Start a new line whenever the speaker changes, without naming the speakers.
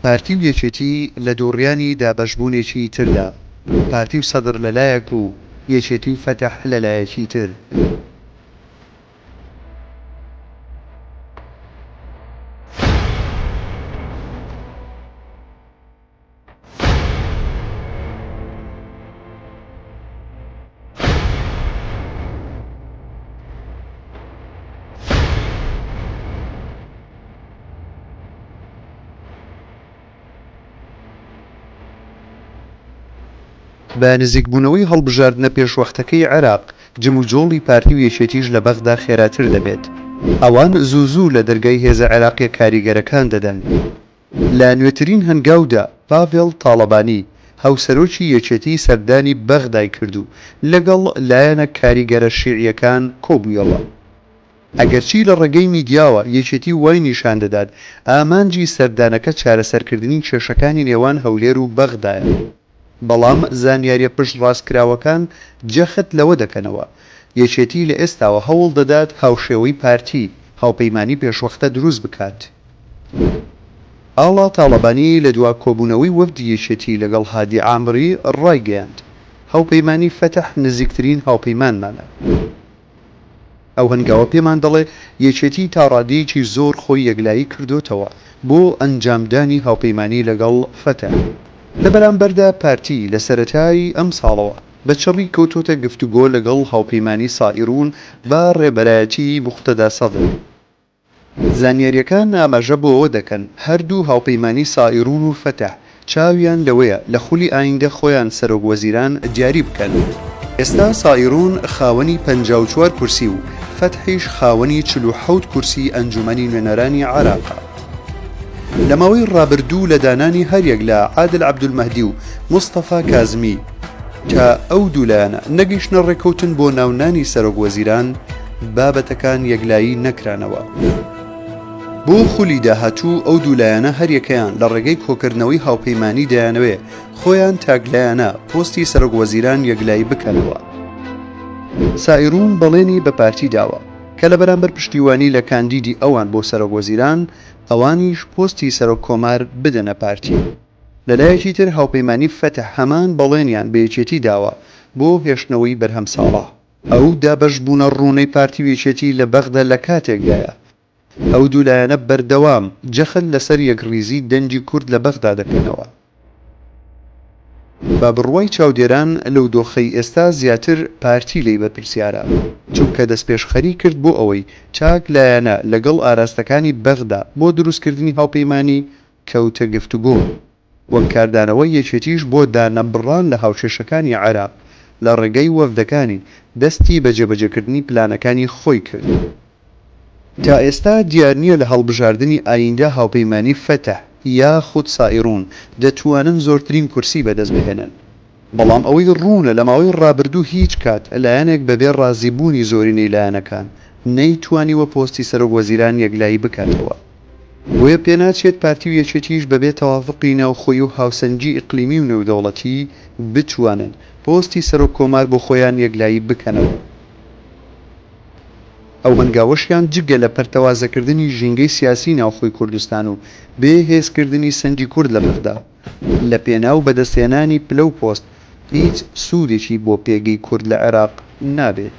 پارتی و یەکێتی لە دووڕیانی دابەشبوونێکی تردا، پارتی و سەدر لە لایەک و یەکێتی و فەتح لە لایەکی تر، بە نزیکبوونەوەی هەڵبژاردنە پێشوەختەکەی عێراق، جموجۆڵی پارتی و یەکێتیش لە بەغدا خێراتر دەبێت. ئەوان زوو زوو لە دەرگای هێزە عێراقییە کاریگەرەکان دەدەن. لە نوێترین هەنگاودا پاڤێڵ تاڵەبانی، هاوسەرۆکی یەکێتی سەردانی بەغدای کرد و لەگەڵ لایەنە کاریگەرە شیعییەکان کۆبوویەوە. ئەگەرچی لە ڕێگەی میدیاوە یەکێتی وای نیشان دەدات ئامانجی سەردانەکە چارەسەرکردنی کێشەکانی نێوان هەولێر و بەغدایە، بەڵام زانیارییە پشتڕاستکراوەکان جەخت لەوە دەکەنەوە، یەکێتی لە ئێستاوە هەوڵ دەدات هاوشێوەی پارتی، هاوپەیمانی پێشوەختە دروست بکات. ئاڵا تاڵەبانی لە دوا کۆبوونەوەی وەفدی یەکێتی لەگەڵ هادی عامری ڕایگەیاند، هاوپەیمانی فەتح نزیکترین هاوپەیمانمانە. ئەو هەنگاوە پێمان دەڵێ یەکێتی تا ڕادەیەکی زۆر خۆی یەکلایی کردۆتەوە بۆ ئەنجامدانی هاوپەیمانی لەگەڵ فەتە. لە بەرامبەردا پارتی لە سەرەتای ئەمساڵەوە بە چڕی کەوتۆتە گفتوگۆ لەگەڵ هاوپەیمانی سائیروون بە ڕێبەرایەتی موقتەدا سەدر. زانیارییەکان ئاماژە بۆ ئەوە دەکەن، هەردوو هاوپەیمانی سائیڕون و فەتح چاویان لەوەیە لە خولی ئایندە خۆیان سەرۆک وەزیران دیاری بکەن. ئێستا سائیڕون خاوەنی پەنجا و چوار کورسی و فەتحیش خاوەنی چل و حەوت کورسی ئەنجوومەنی نوێنەرانی عێراقە. لە ماوەی ڕابردوو لە دانانی هەریەک لە عادل عەبدولمەهدی و مستەفا کازمی تا ئەو دوو لایەنە نەگەیشتنە ڕێککەوتن بۆ ناونانی سەرۆک وەزیران، بابەتەکان یەکلایی نەکرانەوە. بۆ خولی داهاتوو ئەو دوو لایەنە هەریەکەیان لە ڕێگەی کۆکردنەوەی هاوپەیمانی دەیانەوێ خۆیان تاکلایەنە پۆستی سەرۆک وەزیران یەکلایی بکەنەوە. سائیروون بەڵێنی بە پارتی داوە کە لە بەرامبەر پشتیوانی لە کاندیدی ئەوان بۆ سەرۆک وەزیران، ئەوانیش پۆستی سەرۆک کۆمار بدەنە پارتی. لە لایەکی تر هاوپەیمانی فەتح هەمان بەڵێنیان بە یەکێتی داوە بۆ هێشتنەوەی بەرهەم ساڵح. ئەو دابەشبوونە ڕوونەی پارتی و یەکێتی لە بەغدا لە کاتێکدایە، ئەو دوو لایەنە بەردەوام جەخت لەسەر یەکڕیزی دەنگی کورد لە بەغدا دەکەنەوە. بە بڕوای چاودێران لەو دۆخەی ئێستا زیاتر پارتی لێی بەرپرسیارە، چونکە دەستپێشخەری کرد بۆ ئەوەی تاک لایەنە لەگەڵ ئاراستەکانی بەغدا بۆ دروستکردنی هاوپەیمانی کەوتە گفتوگۆ. وەک کاردانەوەی یەکێتیش بۆ دانەبڕان لە هاوکێشەکانی عێراق لە ڕێگەی وەفدەکانی، دەستی بە جێبەجێکردنی پلانەکانی خۆی کرد. تا ئێستا دیار نییە لە هەڵبژاردنی ئاییندە هاوپەیمانیی فەتح یاخود سائیڕون دەتوانن زۆرترین کورسی بەدەست بهێنن. بەڵام ئەوەی ڕوونە لە ماوەی ڕابردوو هیچ کات لایەنێک بەبێ ڕازیبوونی زۆرینەی لایەنەکان نەیتوانیوە پۆستی سەرۆک وەزیران یەکلایی بکاتەوە. بۆیە پێناچێت پارتی و یەکێتیش بەبێ تەوافقی ناوخۆیی و هاوسەنگی ئیقلیمی و نێودەوڵەتی بتوانن پۆستی سەرۆک کۆمار بۆ خۆیان یەکلایی بکەنەوە. ئەو هەنگاوەشیان جگە لە پەرتەوازەکردنی ژینگەی سیاسی ناوخۆی کوردستان و بێ هێزکردنی سەنگی کورد لە بەغدا، لەپێناو بەدەستهێنانی پلە و پۆست هیچ سوودێکی بۆ پێگەی کورد لە عێراق نابێت.